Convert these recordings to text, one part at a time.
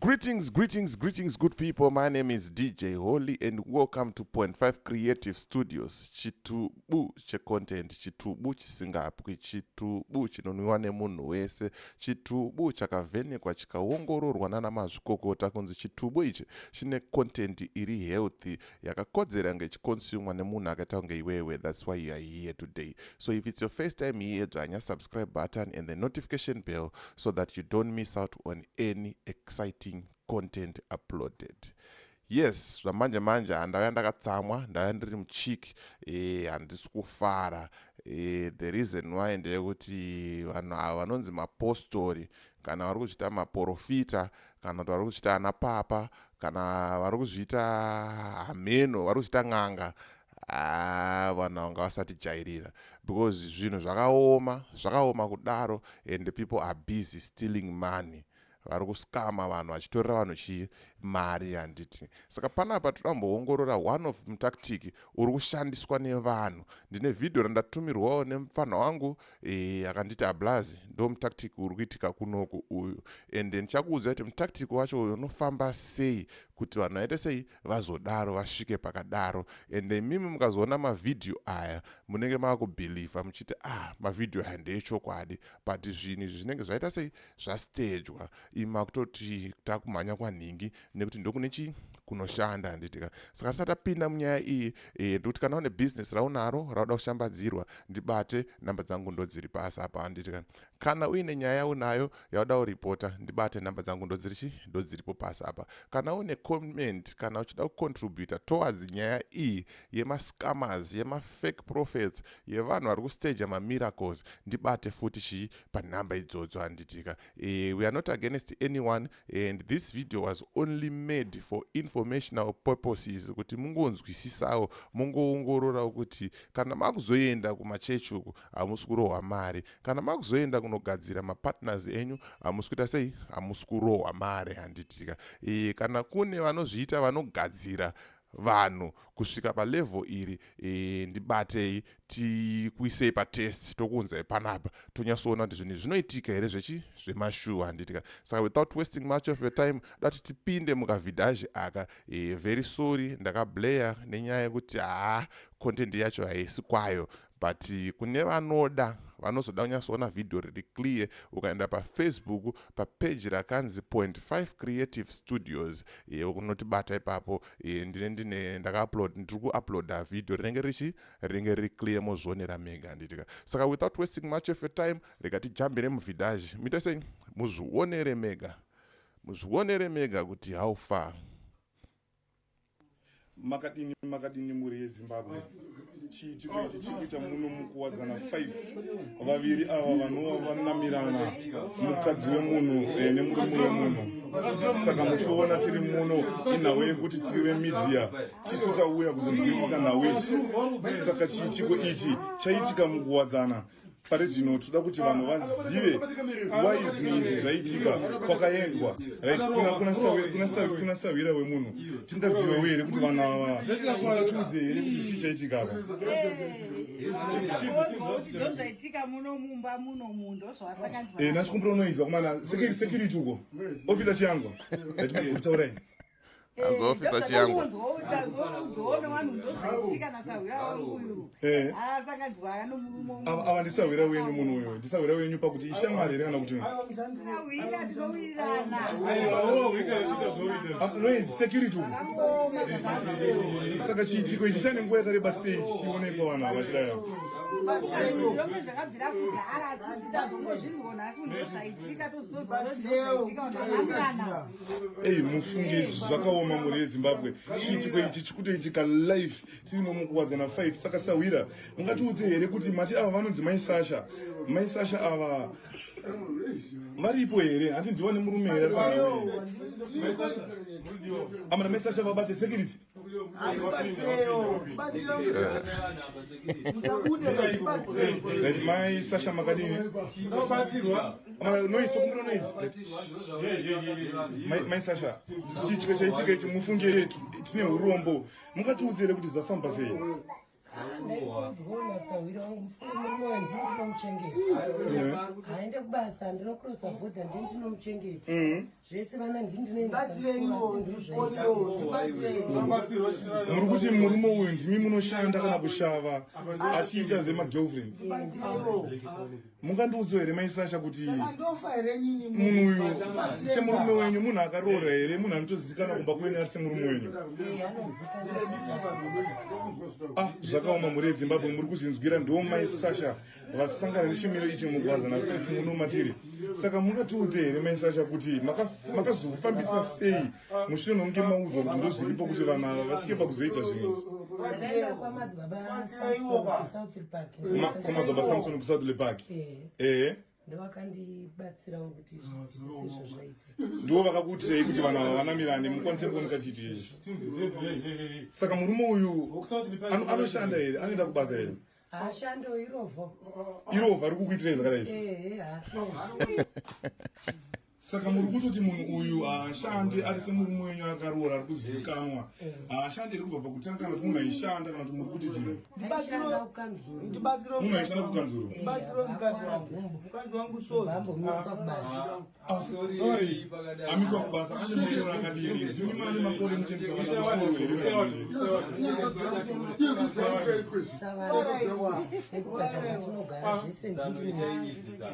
Greetings, greetings, greetings, good people. My name is DJ Holy, and welcome to Point Five Creative Studios. Chitubu checontent, chitubu chisingapwi, chitubu chinonwiwa nemunhu wese, chitubu chakavhenekwa chikaongororwa nana mazvikokota kunzi chitubu ichi chine content iri healthy yakakodzera nge chiconsumwa nemunhu akaita kunge iwewe thats why youare here today so if its your first time here dzvanya subscribe button and the notification bell so that you don't miss out on any exciting content uploaded yes zvamanje manje handauya ndakatsamwa ndauya ndiri muchiki eh, handisi kufara eh, the reason why ndeyekuti vanhu ava vanonzi mapostori kana vari kuzviita maporofita kana kuti vari kuzviita ana papa kana vari kuzviita hameno vari kuzviita n'anga ah, vanhu vanga vasatijairira because zvinhu zvakaoma zvakaoma kudaro and people are busy stealing money vari kuskama vanhu vachitorera vanhu chii mari handiti saka panapa toda kumboongorora one of mutactic uri kushandiswa nevanhu ndine vhidhiyo randatumirwawo nemupfanha wangu e, akanditi ablazi ndo mutactic uri kuitika kunoku uyu and then chakuudza kuti mutactic wacho uyo unofamba sei kuti vanhu vaite sei vazodaro vasvike pakadaro and imimi mukazoona mavhidhiyo aya munenge makubhilivha muchiti ah mavhidhiyo aya ndeechokwadi but zvinhu izvi zvinenge zvaita sei zvastejwa imi makutoti takumhanya kwanhingi nekuti ndokune chi kunoshanda handitika saka tisati tapinda munyaya iyi e, ndikuti kana une business raunaro rauda kushambadzirwa ndibate nhamba dzangu ndodziri pasi apa handitika kana uine nyaya yaunayo yauda kuripota ndibate nhamba dzangu ndodzirichi ndodziripo pasi apa kana une comment kana uchida kucontributa towards nyaya iyi yemascammers yemafake prophets yevanhu vari kustaja mamiracles ndibate futi chii panhamba idzodzo handitika e, we are not against anyone and this video was only made for informational purposes kuti mungonzwisisawo mungoongororawo kuti kana makuzoenda kumachechi uku hamusi kurohwa mari kana makuzoenda kunogadzira mapartners enyu hamusi kuita sei hamusi kurohwa mari handitika e, kana kune vanozviita vanogadzira vanhu kusvika palevel iri e, ndibatei tikuisei patest tokuunzai panapa tonyatsoona kuti zvinhu zvinoitika here zvechi zvemashuwa handitika saka without wasting much of your time dati tipinde mukavidhaji aka e, very sorry ndakablayer nenyaya yekuti haa content yacho haisi kwayo but kune vanoda vanozoda kunyatsoona vhidhiyo riri clear ukaenda pafacebook papeji rakanzi point 5 creative studios ye unotibata ipapo e, ndine ndine ndakaupload ndiri kuuploada vhidhiyo rinenge richi rinenge riri clear mozvionera mega handitika saka without wasting much of your time rega tijambire muvhidhaji muite sei muzvionere mega muzvionere mega kuti how far makadini makadini mhuri yezimbabwe chiitiko ichi chiri kuita muno mukuwadzana 5 vaviri ava vanova vanamirana mukadzi wemunhu eh, nemurume wemunhu saka muchiona tiri muno inhau yekuti tiri vemidhiya tisu tauya kuzonzwisisa nhau isu saka chiitiko ichi chaitika mukuwadzana pari zvino tinoda kuti vanhu vazive why zvinhu izvi zvaitika kwakaendwa rit kuna sahwira wemunhu tingazivewo here kuti vanhu ava ungatiudze here kuti chii chaitika apa eh, nachikumbira unoizwa kumana security uko ofisa chiyangwa atimagurutaurai hanzi ofisa chiyangu ava ndisahwira wenyu munhu uyo ndisahwira wenyu pakuti ishamwari here kana kuti noise security saka chiitiko ichi chane nguva yakareba sei chichionekwa vanhu ava chidaya eyi mufunge izvi zvakaoma mhuri yezimbabwe chiitiko ichi chikutoitika life tirimo mukuwadzana fight saka sahwira mungatiudze here kuti mati ava vanonzi mai sasha mai sasha ava varipo here hati ndiwane murume here amana mai sasha vabate security Guys, mai Sasha makadini? Noise, kumbuno noise. Mai- Mai Sasha, chiitiko chaitika ichi mufunge tine urombo. Mungatiudze here kuti zvafamba sei? ndaikuudzwaona sahwira wangu mufana murume wangu ndini ndinomuchengeta haende kubasa ndinokurosa bhodha ndini ndinomuchengeta mm-hmm. zvese vana ndini ndinoendamuri kuti murume uyu ndimi munoshanda kana kushava achiita zvemagirlfriends mungandiudzo here mai sasha kuti munhu uyu semurume wenyu munhu akaroora here munhu anotozivikanwa kumba kwenyu ari semurume wenyu ah zvakaoma mhuri yezimbabwe muri kuzvinzwira ndo mai sasha vasangana nechimiro ichi mugwaza nafefu muno matiri saka mungatiudze here mai sasha kuti makazofambisa sei mushure mekunge maudzwa kuti ndozviripo kuti vanhu ava vasvike pakuzoita zvinhu kwamadzibaba samson kusouth lepark ehe ndovakandibatsirawo kuti ndivo vakakuitirei kuti vanhu ava vanamirane mukwanise kuoneka chitu izvi saka murume uyu anoshanda here anoenda kubasa here hashando irovho irovho ari kukuitirei zvakadai izvi saka muri kutoti munhu uyu haashandi ari semurume wenyu akaroora ari kuzivikanwa haashandi iri kubva pakutanga kana kuti munhu aishanda kana kuti muri kuti chii munhu aishanda kukanzuro amiswa kubasa ane mairo akadini dzimi mane makore muchendesa vana vachikoro here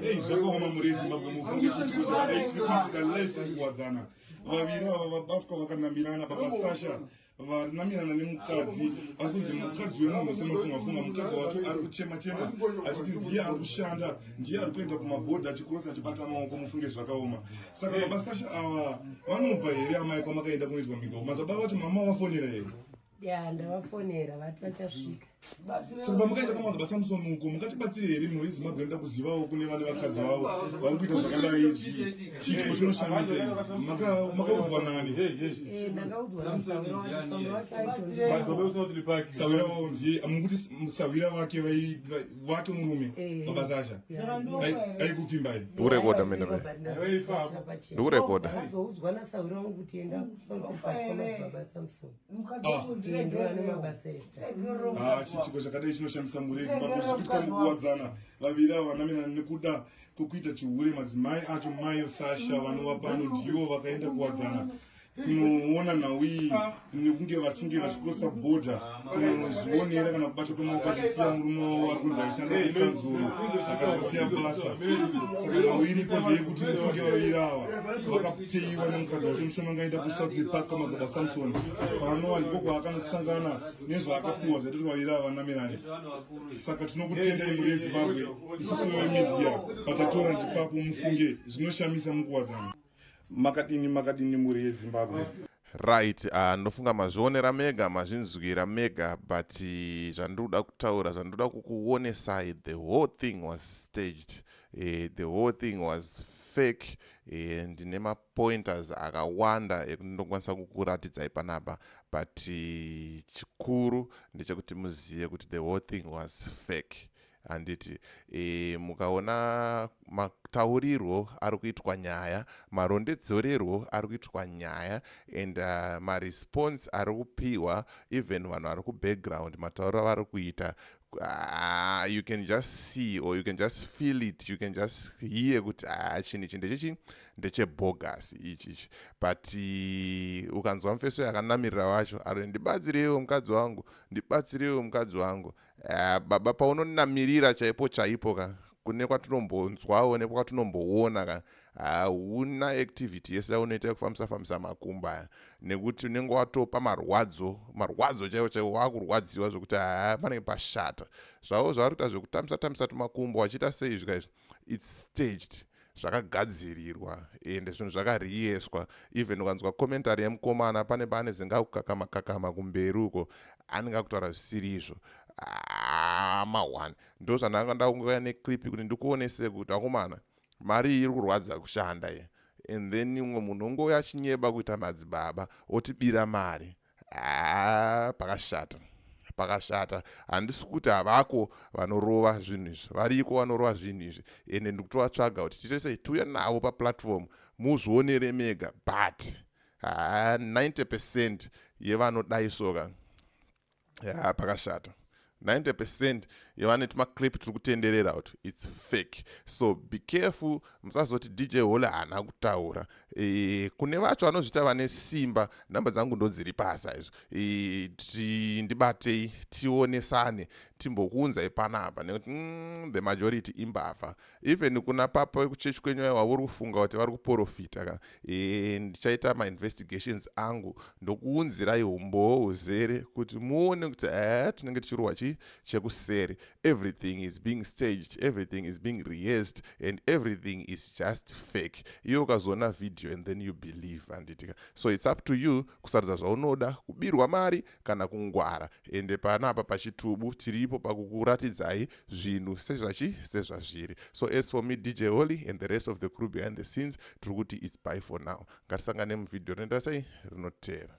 Hey, zvakaoma muri Zimbabwe mufunge kuti kuzoarechiitika life kuwadzana. Vaviri ava vabatwa vakanamirana baba Sasha vanamirana nemukadzi akunzi mukadzi wemunhu semafunga funga mukadzi wacho ari kuchema chema achiti ndiye ari kushanda ndiye ari kuenda kumabhodha achikrosa achibata maoko mufunge zvakaoma saka baba Sasha ava vanobva here amai kwamakaenda kunoitwa migao mazababa vacho mama vafonera here ya ndavafonera vati vachasvika saka pamukaita kamaza basamson uko mukatibatsire here mhuri yezimbabwe inoda kuzivawo kune vane vakadzi vavo vari kuita zvakadai izvi chiitiko chinoshamisa izvi makaudzwa nani sawira wavo ndiye mukuti sawira vake vake murume mabasa asha aikupfimbai ndikurekoda mene me ndikurekoda azoudzwa nasawira wangu kuti enda kusaaa baba samson Ah, chiitiko chakadai chinoshamisa mhuri yezimbabwe zvichikuitika mukuwadzana vaviri ava vanamirana nekuda kwekuita chihure madzimai acho mayo sasha vanova pano ndivo vakaenda kuwadzana kunoona nhau iyi nekunge vachinge vachikosa bhodha kunozvionera kana kubata kwemaoko achisiya murume wavo vari kunzi aishanda kukanzuru akazosiya basa saka nhau iripo ndeyekuti mufunge vaviri ava tiiwa nemukadzi wacho mushoma ngaenda kusouthly park kwamadzaba samson paanowa ndiko kwaakanosangana nezvaakapuwa zvaiti twaira vanamirani saka tinokutendai muri yezimbabwe isusu vemedia patatora ndipapo mufunge zvinoshamisa mukuwadzana makadini makadini muri yezimbabwe Right, uh, ndofunga mazvionera mega mazvinzwira mega but uh, zvandiri kuda kutaura zvandiri kuda kukuonesai the whole thing was staged uh, the whole thing was fake uh, ndine mapointers akawanda ekuti ndokwanisa kukuratidzai panapa but uh, chikuru ndechekuti muzive kuti the whole thing was fake handiti e, mukaona mataurirwo ari kuitwa nyaya marondedzererwo ari kuitwa nyaya and uh, maresponse ari kupiwa even vanhu vari kubackground matauriro avari kuita uh, you can just see or you can just feel it you can just hear kuti ah, chinhu ichi ndechechii ndechebogus ichi ichi but uh, ukanzwa mufeso yakanamirira wacho ari ndibatsireiwo mukadzi wangu ndibatsireiwo mukadzi wangu Uh, baba paunonamirira chaipo chaipo ka kune kwatinombonzwawo nekwatinombowona ka hauna activity yese yaunoita yekufambisa fambisa makumba aya nekuti unenge watopa marwadzo marwadzo chaivo chaivo wakurwadziwa zvekuti haa panenge pashata zvavo zvavari kuita zvekutambisa tambisa tumakumbo wachiita sei zvika izvi its staged zvakagadzirirwa ende zvinhu zvakariyeswa even ukanzwa commentary yemukomana pane pane zingakukakama kakama kumberi uko anenge akutaura zvisiri izvo ah, maone ndo zvandanga ndakungouya neclip kuti ndikuonese kuti akomana mari iyi iri kurwadza kushanda ye and then umwe munhu ongouya achinyeba kuita madzibaba otibira mari haa pakashata pakashata handisi kuti havako vanorova zvinhu izvi variko vanorova zvinhu izvi ende ndikutovatsvaga kuti tiite sei tiuya navo paplatform muzvionere mega but haa 90 percent yevanodai soka haa pakashata 90 percent yevane tumaclip tiri kutenderera kuti its fake so be careful musazoti dj hole haana kutaura e, kune vacho vanozviita vane simba nhamba dzangu ndodziri pasa izvo e, ti, ndibatei tionesane timbokuunzai panapa nekuti mm, the majority imbavha even kuna papa vekuchechi kwenyu aiwa uri kufunga kuti vari kuporofita ka ee ndichaita mainvestigations angu ndokuunzirai umbowo huzere kuti muone kuti ee tinenge tichirohwa chii chekuseri everything is being staged everything is being rehearsed and everything is just fake iye ukazoona video and then you believe handitika so its up to you kusarudza zvaunoda kubirwa mari kana kungwara ende panapa pachitubu tiripo pakukuratidzai zvinhu sezvachi sezvazviri so as for me dj holy and the rest of the crew behind the scenes tiri kuti its by for now ngatisangane muvhidhiyo rinoita sei rinoteera